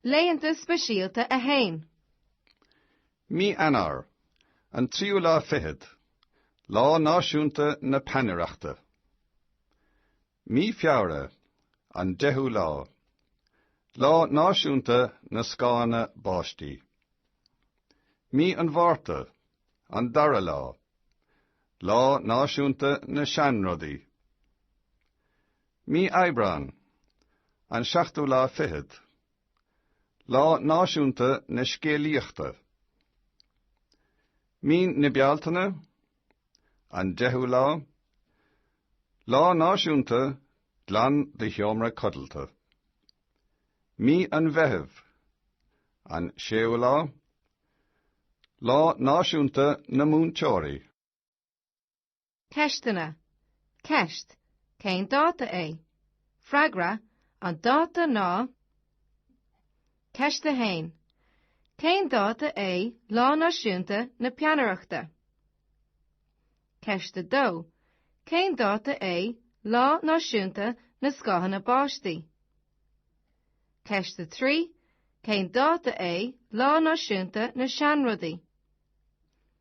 Laethanta Speisialta 1. Mí Eanáir, an tríú lá fichead, Lá Náisiúnta na Peannaireachta. Mí Feabhra, an deichiú lá, Lá Náisiúnta na Scáthanna Báistí. Mí an Mhárta, an dara lá, Lá Náisiúnta na Seanrudaí. Mí Aibreáin, an seachtú lá fichead. Lá Náisiúnta na Scéalaíochta. Mí na Bealtaine, an deichiú lá. Lá Náisiúnta Glan do Sheomra Codlata. Mí an Mheithimh, an séú lá. Lá Náisiúnta na Múinteoirí. Ceisteanna. Ceist, Cén dáta é? Freagra, An dáta ná Ceist 1. Cén dáta é Lá Náisiúnta na Peannaireachta? Ceist 2. Cén dáta é Lá Náisiúnta na Scáthanna Báistí? Ceist 3. Cén dáta é Lá Náisiúnta na Seanrudaí?